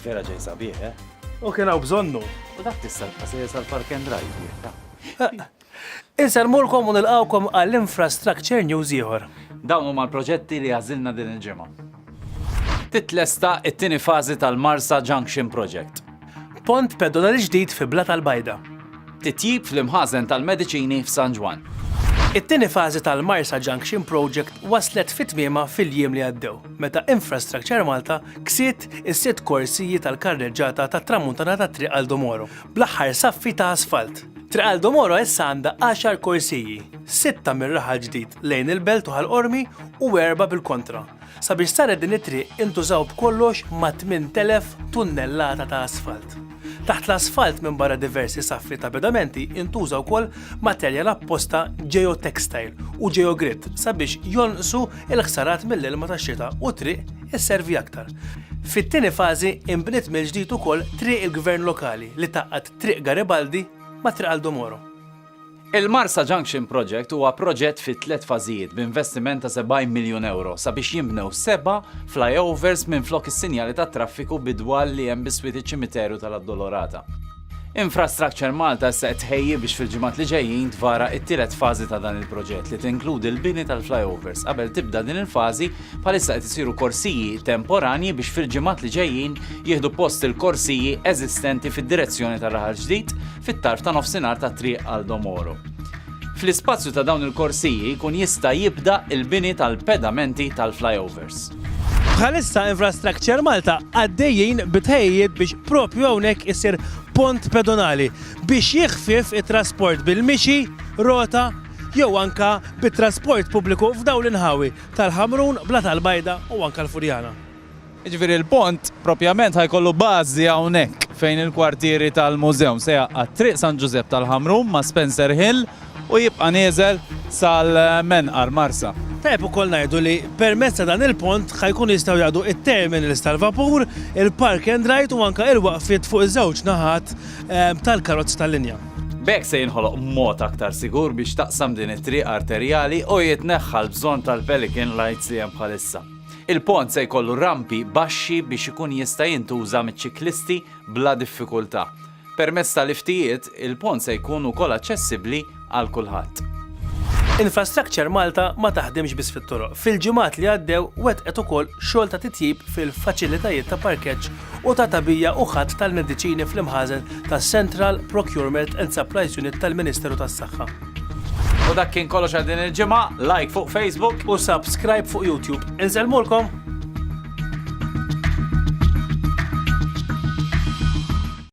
Vera ġej sabiħ, eh? U kien hawn bżonnu. U dak tista' se jesal Park and Drive. Insalmulkom u nilqawkom għall-infrastructure news ieħor. Dawn huma l-proġetti li għażilna din il-ġimgħa. Titlesta it-tieni fażi tal-Marsa Junction Project. Pont pedonali ġdid fi Blat al-Bajda. Titjib fl-imħażen tal-mediċini f'San Ġwann. It-tieni fażi tal-Marsa Junction Project waslet fi tmiemha fil-jiem li għaddew, meta Infrastructure Malta ksiet is-sitt korsiji tal-karreġġata tat-Tramuntana tat-Triq Għal Domoro, bl-aħħar saffi ta' asfalt. Triq Għal Domoro issa għandha għaxar korsiji, sitta mir-raħal ġdid lejn il-Belt u Ħal Qormi u erbgħa bil-kontra, Sabiex saret din it-triq intużaw b'kollox ma' 8,000 tunnellata ta' asfalt. Taħt l-asfalt minbarra diversi saffi ta' pedamenti intuża wkoll materjal apposta Geotextile u Geogrit sabiex jonqsu l-ħsarat mill-ilma tax-xita u t-triq isservi aktar. Fit-tieni fażi inbniet mill-ġdid ukoll Triq il-Gvern Lokali li tgħaqqad Triq Garibaldi ma' Triq Aldo Moro. Il-Marsa Junction Project huwa proġett fi tliet fażijiet b'investiment ta' 70 miljun ewro sabiex jinbnew seba' flyovers minflok is-sinjali tat-traffiku bidwal li hemm biswit iċ-Ċimiteru tal-Addolorata. Infrastructure Malta issa qed tħejji biex fil-ġimgħat li ġejjin tvara t-tielet fażi ta' dan il-proġett li tinkludi l-bini tal-flyovers. Qabel tibda din il-fażi, bħalissa qed isiru korsiji temporanji biex fil-ġimgħat li ġejjin jieħdu post il-korsiji eżistenti fid-direzzjoni tar-Raħal Ġdid, fit-tarf ta' nofsinhar ta' Triq Aldo Moro. Fl-ispazju ta' dawn il-korsiji jkun jista' jibda l-bini tal-pedamenti tal-flyovers. Bħalissa Infrastructure Malta għaddejjin bi tħejjijiet biex propju hawnhekk isir pont pedonali biex jiħfief it-trasport bil-mixi, rota jew anke bit-trasport pubbliku f'dawn l-inħawi tal-Ħamrun, Blat Al-Bajda u anke l-Furjana. Jiġifieri l-pont proprjament ħa jkollu bażi hawnhekk fejn il-kwartieri tal-Mużeum se jgħaqqad Triq San Ġużepp tal-Ħamrun ma' Spencer Hill u jibqa' nieżel sal-Menqar, Marsa. Tajjeb ukoll ngħidu li permezz ta' dan il-pont ħa jkunu jistgħu jgħaddu it-terminals tal-vapur, il-park and ride u anke il-waqfiet fuq iż-żewġ naħat tal-karozzi tal-linja. B'hekk se jinħoloq mod aktar sigur biex taqsam din it-triq arterjali u jitneħħa l-bżonn tal-pelican lights li hemm bħalissa. Il-pont se jkollu rampi baxxi biex ikun jista' jintuża miċ-ċiklisti bla diffikultà. Permezz ta' liftijiet, il-pont se jkun ukoll aċċessibbli għal kulħadd. Infrastructure Malta ma taħdimx biss fit-toroq. Fil-ġimgħat li għaddew wettqet ukoll xogħol ta' titjib fil-faċilitajiet ta' parkeġġ u ta' tagħbija u ħatt tal-mediċini fl-imħażen tas-Central Procurement and Supplies Unit tal-Ministeru tas-Saħħa. U dak kien kollox għal din il-ġimgħa, like fuq Facebook u subscribe fuq YouTube. Inselmulkom!